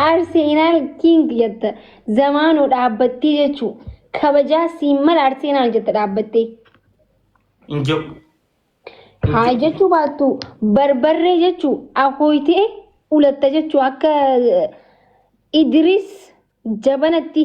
Arsenaal King jetta zamaanuu dhaabbattee jechuu kabajaa siin mala Arsenaal jetta dhaabbattee. Hin jiru. Haa jechuu baattu barbarree jechuu akooytee ulatta jechuu akka eh, Idris jabanatti.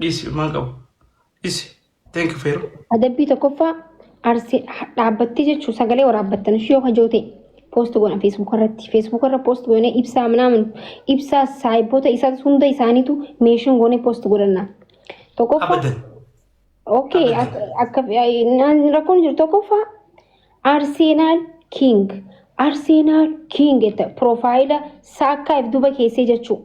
Dhisi ilmaan qabu. Dhisi. Thank you Feero. Adabbii tokkoffaa arsi dhaabbattee jechuun sagalee waraabbattan ishee yoo kajoo ta'e poost goona feesbuuk irratti feesbuuk irra poost goone ibsaa minaamin ibsaa saayiboota isaa hunda isaaniitu meeshin goone poost godhanna. Tokkoffaa Abadan. okay Abadan. akka rakkoon jiru tokkoffaa Arsenal King Arsenal King jette piroofaayila saakkaa if duba keessee jechuudha.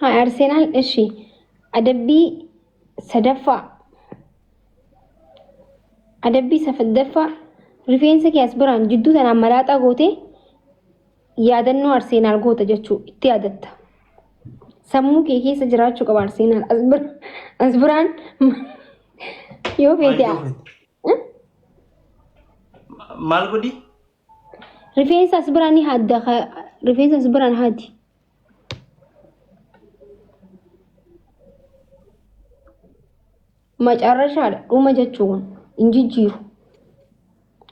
Haa Arsenaal ishi adabbii sadaffaa adabbii sadaffaa rifeensa kee as biraan jidduu tanaan malaaxaa gootee yaadannoo Arsenaal goota jechuu itti yaadatta. Sammuu kee keessa jiraachuu qaba Arsenaal as bira- as biraan yoo feete Maal godhi? Rifeensa as biraan ni hadda rifeensa as biraan hadi. Macarrashaadha dhuma jechuun hin jijjiiru.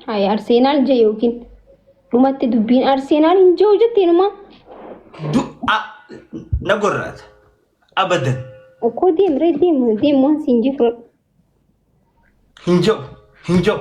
Hayi Arseenaal je yookiin dhumatti dubbiin Arseenaal hin jiru jetteen maa? Du'a na gorraata. Abadan. Okkoo deemree deemu deemu waan siin jifru. Hin ja'u. Hin ja'u.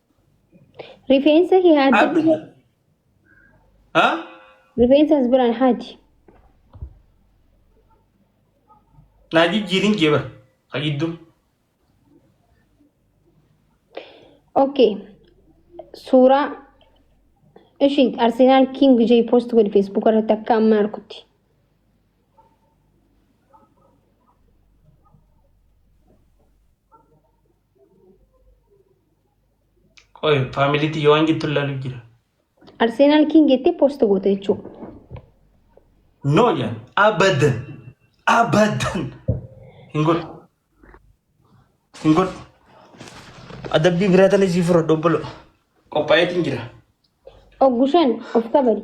Rifeensa kee haati. Abdi. Ha? Rifeensa as biraan haati. Naa jijjiirin jee bara. Ka gidduu. Okay. Suuraa ishii Arsenaal King Jay post godhi Facebook irratti akka amma arkutti. Qoy faamilii tiyya waan jettu ilaaluuf jira. Arsenal King jettee post goote jechuudha. No jaan abadan abadan hin godhu hin godhu adabbii biraa tana sii fura dobbolo qophaa'eetiin jira. Oggushan of kabali.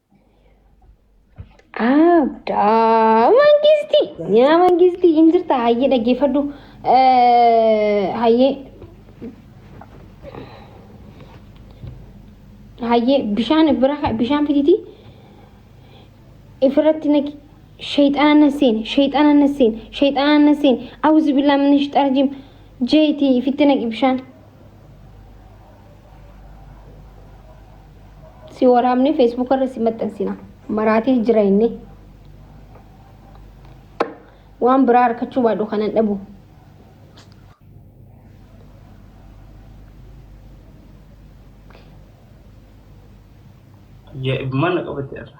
Abdaa mangistii yaa mangistii hin jirta hayyee dhaggeeffadhu hayyee hayyee bishaan bira bishaan fiditi ifirratti naqi shayxaana na seene shayxaana na seene shayxaana na seene awuzu billaa min shayxaana jim jeetii ifitti naqi bishaan si waraabnee feesbuuka irra si maxxansina maraatee jira inni waan biraa harkachuu baadhu kanan dhabu Ajaa'ibummaan na qabate irra.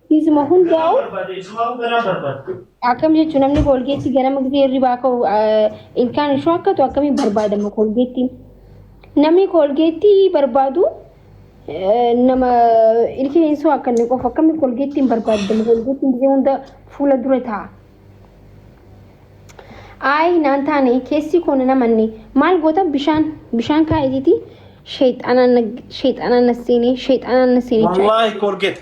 Isuma hundaa'u akkam jechuun namni koolgeettii ganama gisee hirribaa ka'u ilkaan ishuu akka ta'u akkamiin barbaadama koolgeettiin. Namni koolgeettii barbaadu nama ilkaan ishuu akka inni qofa akkamiin koolgeettiin barbaadama koolgeettiin gisee hunda fuula dura ta'a. Ayi naan taane keessi koo na namanne maal goota bishaan bishaan kaa'eetiiti sheexanaan na seenee sheexanaan na seenee. Wallaahi koolgeeta.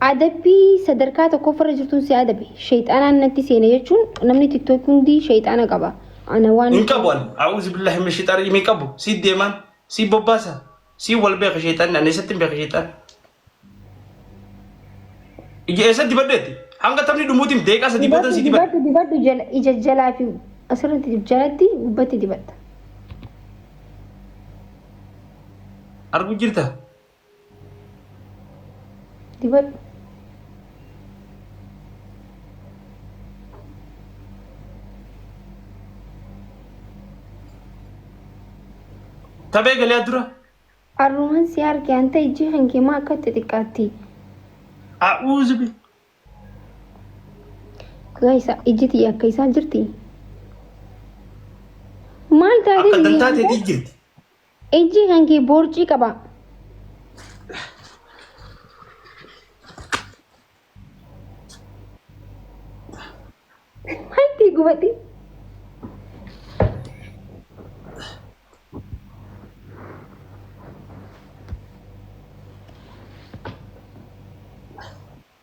Adabbii sadarkaa tokkoffarra jirtun si adabe. Sheyxaanaan natti seene jechuun namni tiktok hundi sheyxaana qaba. Ana waan. Hin qabu an. A'uuzubillahi mina sheyxaani rajiim hin qabu. Sii deemaan. Sii bobbaasa. Sii wal beeka sheyxaanni an eessattin beeka sheyxaana. Ija eessa dibadheetti? Hanga taphni dhumuutiin deeqaa sadii boodan Dibadhu sii dibadhe. dibadhu dibadhu jala ija jalaa fi asirratti dib- jalatti gubbatti dibatta. Arguu jirta? dibadhu. Taphee galaa dura. Arruman si arge anta ijji kan kee maa akka itti xiqqaatti. A'uuzu bi. Gaa isa ijji tiyya akka isaa jirti. Maal taatee Akka dantaa ta'eetii jirti. Ijji kan kee boorcii qaba. Maalti gubate?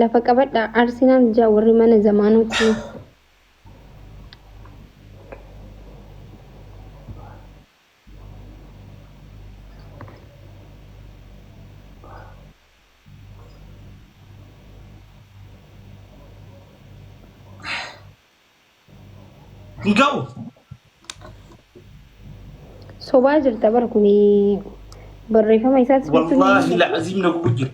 Lafa qabadhaa Arsenal jaa warri mana zamaanoo kun. Hin ga'u. Sobaa jirta bar kun barreeffama isaas jechuun Wallaahi la'aziim na gubu jira.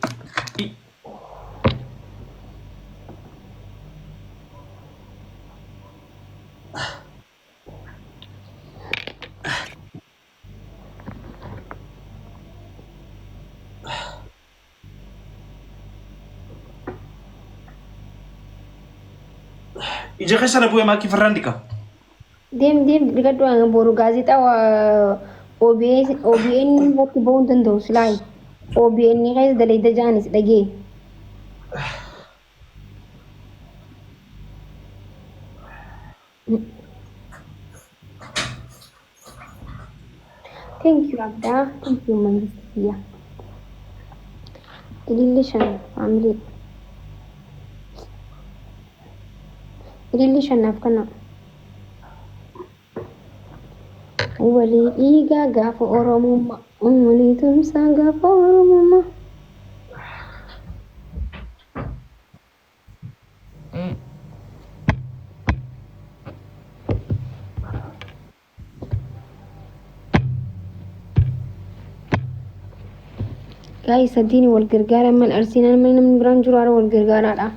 Ija keessa na bu'e maakii farraan diqa. Deem deem dhiqadhu hanga boru gaazexaa waa- OBS OBN irratti ba'uu hin danda'u silaayi. OBN keessa dalayda jaanis dhagee. Thank you Abdaa. Thank you Mangisti Kiyya. Ililli shan family. Ililli shan naaf kana. Walii dhiigaa gaafa Oromummaa. Walii tumsaa gaafa Oromummaa. Gaa'ii sadiin wal gargaaraa man arsiin amma namni biraan jiru haara wal gargaaraadha.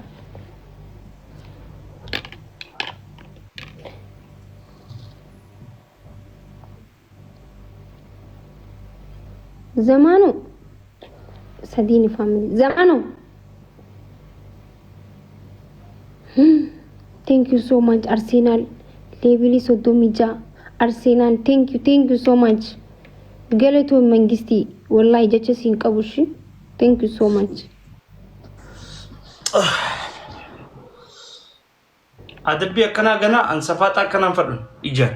Zamaanu sadiini family Zamaanu thank you so much Arsenal leebili soddomii ja'a Arsenal thank you thank you so much galatoon mangistii wallahi jecha siin qabu shi thank you so much Adabbii akkanaa ganaa an safaaxaa akkanaan fadhun ijaan.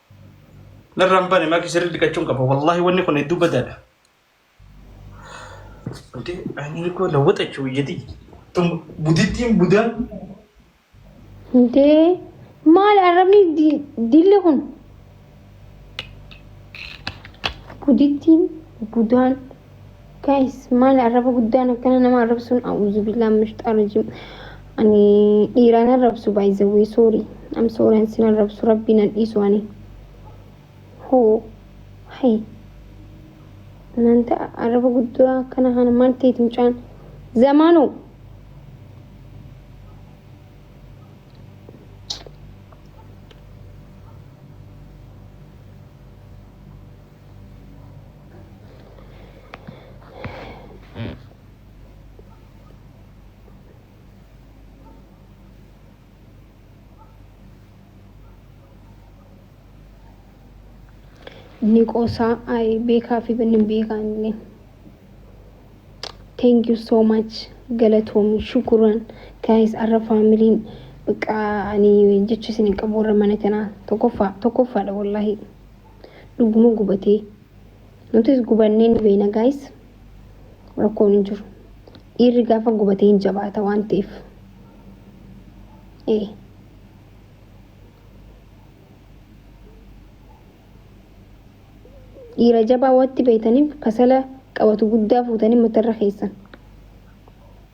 Narra hin bane maki sirri dhiqachuun qaba. Wallahi wanni kun hedduu badaadha. Wanti ani koo lawwaxachuu iyyati. Tun budittiin budaan Dee maal arrabni di- dilli kun? Budittiin budaan Guys, maali arraba guddaan akkana nama arrabsuun a'uuzu billaa mishxaa rajim. Ani dhiiraan arrabsu by the way sorry. Am sorry an sin arrabsu rabbiin an dhiisu ani. Hoo hay maanta arraba guddaa akkana kana maal ta'eeti mucaan zamaanoo. ni qoosaa ay beekaa fi banni hin beekaa inni thank you so much galatoomi shukuran guys arra faamiliin baqa ani jecha isin hin qabu warra mana kanaa tokkoffaa tokkoffaadha wallaahi Dhuguma gubatee. Nutis gubannee ni beena gaayis. Rakkoon hin jiru. Dhiirri gaafa gubatee hin jabaata waan ta'eef. Ee. Dhiira jabaa watti beeytaniif kasala qabatu guddaa fuutanii matarra keessan.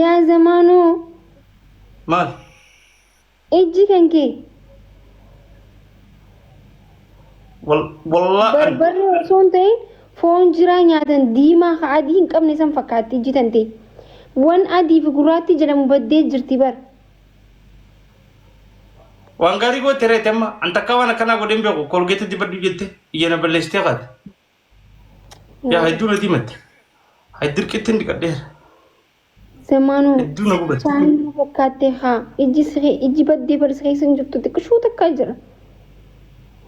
Yaa zamaanoo Maal? ijji kan kee Wal- Wallaahi. barbarree osoo hin ta'in foon jiraa nyaatan diimaa ka adii hin qabne san fakkaatti ijji tante. Wan adii fi gurraatti jedhamu baddee jirti bar. Waan gaarii goote reete amma. An takkaa waan akkanaa godheen beeku. Kolgeetii dibadhu jette. Ija na balleessitee kaate. Yaa hedduu na diimatte. Hay dirqittiin dhiqadheera. Semaanuu Hedduu na gubate. bishaan na fakkaattee haa ijji siree ijji baddee barsi keessa hin jirtu xiqqishuu takkaa jira.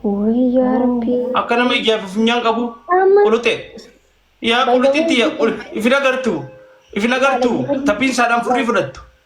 Wayii yaa rabbii. Akka nama ijaaf funyaan qabu. Amma- Quluxee. Yaa quluxitti yaa qul- ifin agartu. Ifin agartu. Taphiin saadhaan furrii fudhattu.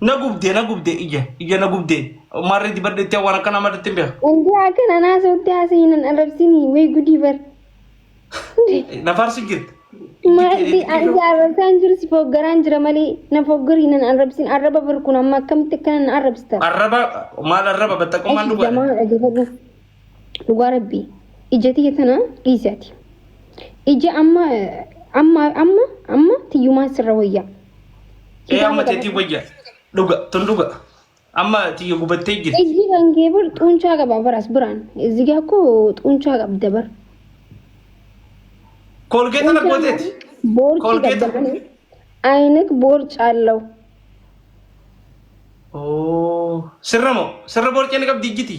Na gubdee na gubdee ija ija na gubdee maarree dibadhu itti waan akkanaa madatti hin beeku. Indii akka nanaa sootee haasa'ii nan arrabsinii way gudii bar. Na faarsi jirti. Maalti anti arrabsaan jiru si foggaraan jira malee na foggarii nan arrabsin arraba bar kun amma akkamitti akkana na arrabsita. Arraba maal arraba battaqqummaan Ashi dhugaa. jamaa dhagefadhu. dhugaa rabbii ija tiyya tana dhiisi ati ija amma amma amma amma tiyyumaan sirra wayyaa Ee amma teetii wayya. Dhuga tun dhuga. Amma tiyya gubattee jirti. iji kan kee bar xuunchaa qaba baras biraan izigaa koo xuunchaa qabda bar Koolgeeta na gooteeti. boorci Colgate. qabda malee ayinak boorcaallau Oo. Sirra moo? Sirra boorcee ni qabdi ijjiti.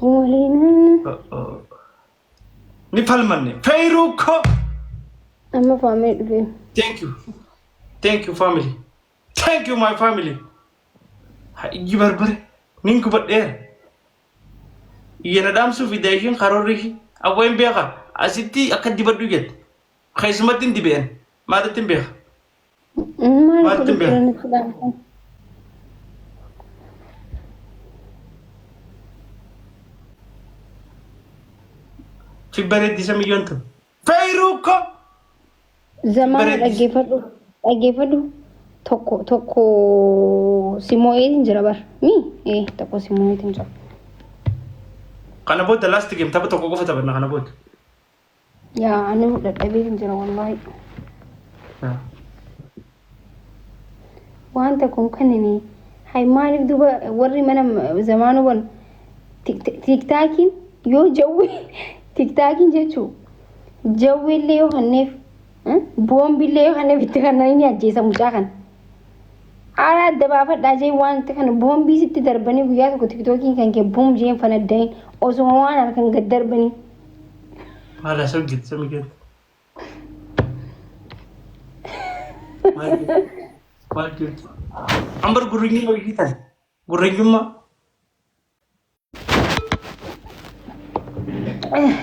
Waliin Ni palmanne. Feyruu koo. amma faamee dhufee. Thank you. Thank you family. Thank you my family. Ha ijji barbare. Nin kubadheera. Iyyana dhaamsuu fi daa'ishiin karoorri ishii. Abboo hin beeka. Asitti akka dibadhu jette. Keessumatti hin dibe'en. Maalitti hin beeka. Maal Maatti godhu bira. jiran islaan kun? Si bareeddi isa miyyoon tun. Feeruu ko. Zamaana Bareeddi. dhaggeeffadhu. Dhaggeeffadhu. Tokko tokko si moo'eetiin jira bar. Mi? Ee tokko si moo'eetiin jira. Kana booda last game tapha tokko qofa taphanna kana booda. Yaa ani dadhabee hin jira wallaahi. Wanta kun kan inni hay maaliif duba warri mana zamaanuu banu tiktaakiin yoo jawwee tiktaakiin jechuun jawweellee yoo hanneef boombillee yoo hanneef itti kanneen ni ajjeesa mucaa kana. Aaraa adda baafadhaa jeen waanti kana boombii sitti darbanii guyyaa tokko tiktookiin kan kee buum jeen fanaddayin osuma waan halkan gad darbanii. Maal haasa'u jirti samii keetti? Maal jirti? Maal jirti? Ambar gurrinyiin hojii tan. Gurrinyummaa.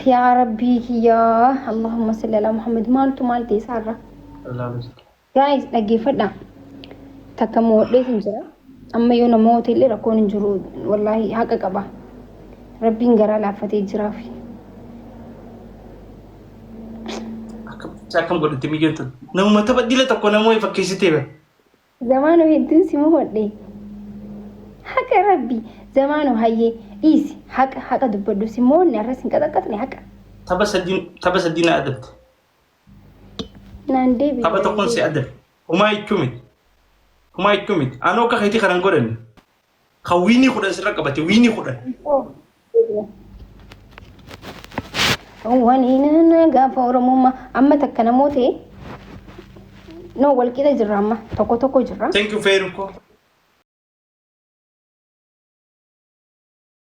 yaa rabbii kiyyaa allahumma salli ala muhammad maaltu maal ta'e isaarra gaa'is dhaggeeffadha takka moodhees hin jira amma yoo namoota illee rakkoon hin jiru wallaahi haqa qaba rabbiin garaa laaffatee jiraaf akkam godhatti miyyootu namuma tapha dila tokko namoo fakkeessitee bara Zamaano hedduun si mohodhe. Haqa rabbi zamaano hayyee dhiisi haqa haqa dubbadhu si moonne arra sin qaxaqqaxne haqa. Tapha sadii tapha sadii na adabde. Naan deebi. Tapha tokkoon si adabe. Humaa jechuu miti. Humaa jechuu miti. Anoo akka keetii kanan godhanne. Kan wiinii kudhan sirra qabate wiinii kudhan. Waliin gaafa Oromummaa amma takka namoota noo walqixa jirra amma tokko tokko jirra. Thank you Feeru koo.